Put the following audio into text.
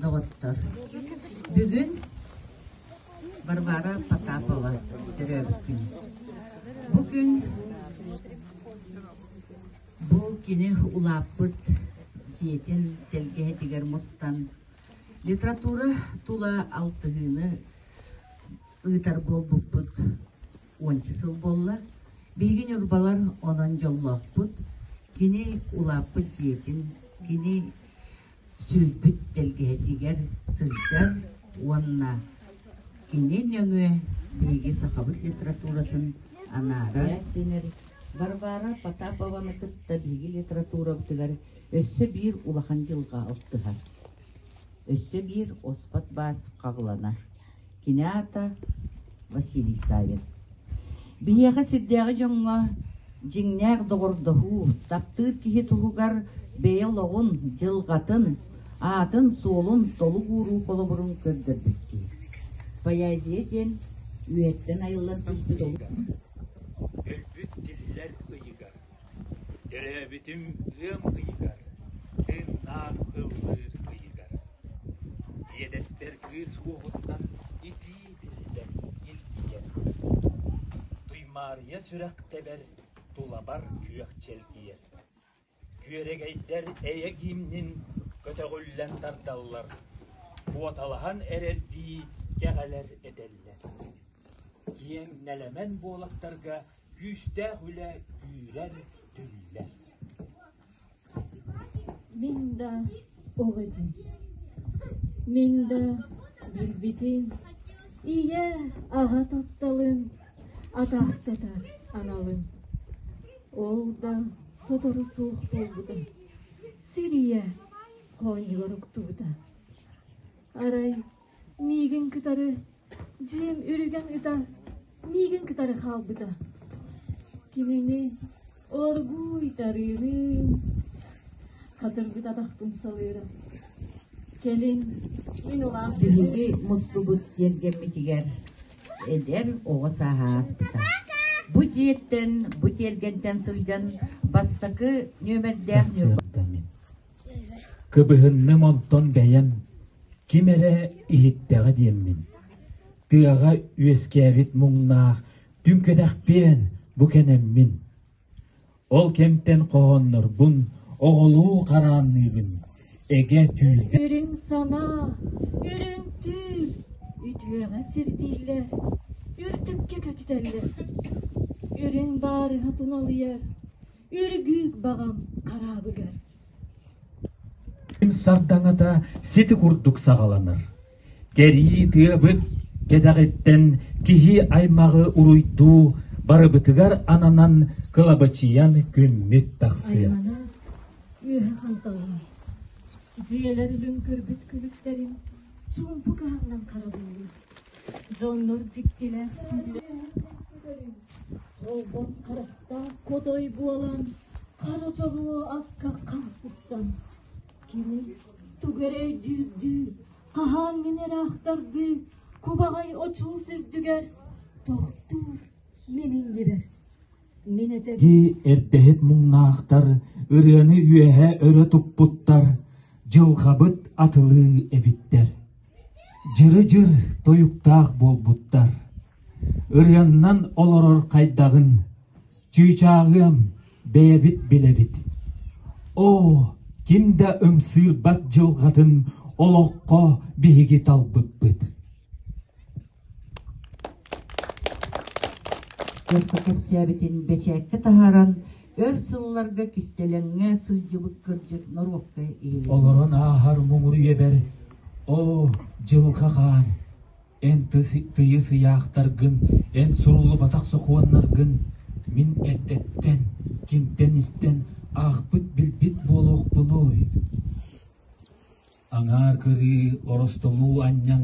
Доҕоттор, бүгүн Варвара Потапова төрөөбүт күн. Бу күн бу кини улааппыт дьиэтин тэлгэһэтигэр мустан литература тула алтыһыыны ыытар буолбуппут уонча сыл буолла. Биһиги ньурбалар онон дьоллоохпут. Кини улааппыт дьиэтин, кини сүүрбүт тэлгэһэтигэр сылдьар уонна кини нөҥүө биһиги сахабыт литературатын анаарар дэнэр Варвара Потапованы кытта биһиги литературабытыгар өссө биир улахан дьылҕа алтыһар. Өссө биир оспот баас хаҕылана. Кинята Василий Савин. Биһиэхэ сирдээҕи дьоҥҥо дьиҥнээх доҕордоһуу, таптыыр киһи туһугар бэйэ олоҕун, дьылҕатын, аатын-суолун толук ууруу холобурун көрдөрбүттүү. Поэзия диэн үйэттэн айыллан түспүт олус Төрөөбүтүм ыам ыйыгар, тыыннаах ыллыыр ыйыгар, иэдэстэр кыыс уоһунан итии биллэн илгийэр, Туймаарыйа сүрэхтэбэр тулабар күөх чэлгийэр, күөрэгэйдэр эйэ гимнин көтөҕүллэн тардаллар, куоталаһан эрэрдии кэҕэлэр этэллэр, киэҥ нэлэмэн буолахтарга Күүстээх үлэ күүрэр, түллэр Мин да ол этим Мин да билбитим Ийэ аҕа тапталын Атаахтата аналын Ол да сотору суох буолбута Сир ийэ хоонньугар уктубута Арай миигин кытары дьиэм үргэн ыта миигин кытары хаалбыта кинини оргууйтарыыным хатырбыт атахпын салыырым кэлин мин улаах биһиги мустубут тиэргэммитигэр эдэр оҕо сааһа ааспыта бу дьиэттэн бу тиэргэнтэн сылдьан бастакы нүөмэрдээх Ньурба Кыбыһынным онтон бэйэм: «Ким эрэ иһиттэҕэ» диэммин, тыаҕа үөскээбит муҥнаах түҥ кэтэхпиэн бу кэнэммин, ол кэмтэн хоһооннорбун оҕолуу хараанныыбын, эгэ түүлбэр Үрүҥ санаа, үрүҥ түү үтүөҕэ сирдииллэр, үрдүккэ көтүтэллэр, үрүҥ баарыһа туналыйар, Өргүүк баҕам хараабыгар Сардаҥата сити курдук саҕаланар. Кэрии тыабыт кэтэҕиттэн киһи аймаҕы уруйдуу барыбытыгар ананан кылабачыйан күммүт тахсыа. Үөһэ ханталай. Дьиэлэр үлүн көрбүт күлүктэрин чуумпу каһаннан харабыллыр. Дьоннор дьиктилээх Холбон харахтаах хотой буолан, хара чобуо акка хамсыстан, кини тугу эрэ өйдүүрдүү, хаһааҥ инэр аахтардыы, кубаҕай очуус үрдүгэр тохтуур миҥин дибэр. Мин этэ Дии эрдэһит муҥнаахтар ырыаны үөһэ өрө туппуттар, дьылҕабыт атылыы эбиттэр. Дьыры-дьыр тойуктаах буолбуттар. Ырыаннан олорор хайдаҕын, чыычааҕыам, бэйэбит билэбит. Оо, ким да ымсыырбат дьылҕатын олоххо биһиги талбыппыт Куорка кэпсээбитин бэчээккэ таһааран, өр сылларга кистэлэҥҥэ сылдьыбыт кырдьык норуокка иһиллибит Олорон ааһар муҥур үөбэр Оо, Дьылҕа Хаан, эн тыйыс ыйаахтаргын, эн суруллубатах сокуоннаргын мин эрдэттэн, кимтэн истэн аахпыт-билбит буолуохпунуй? Аҥаар кырыы, оростолуу анньан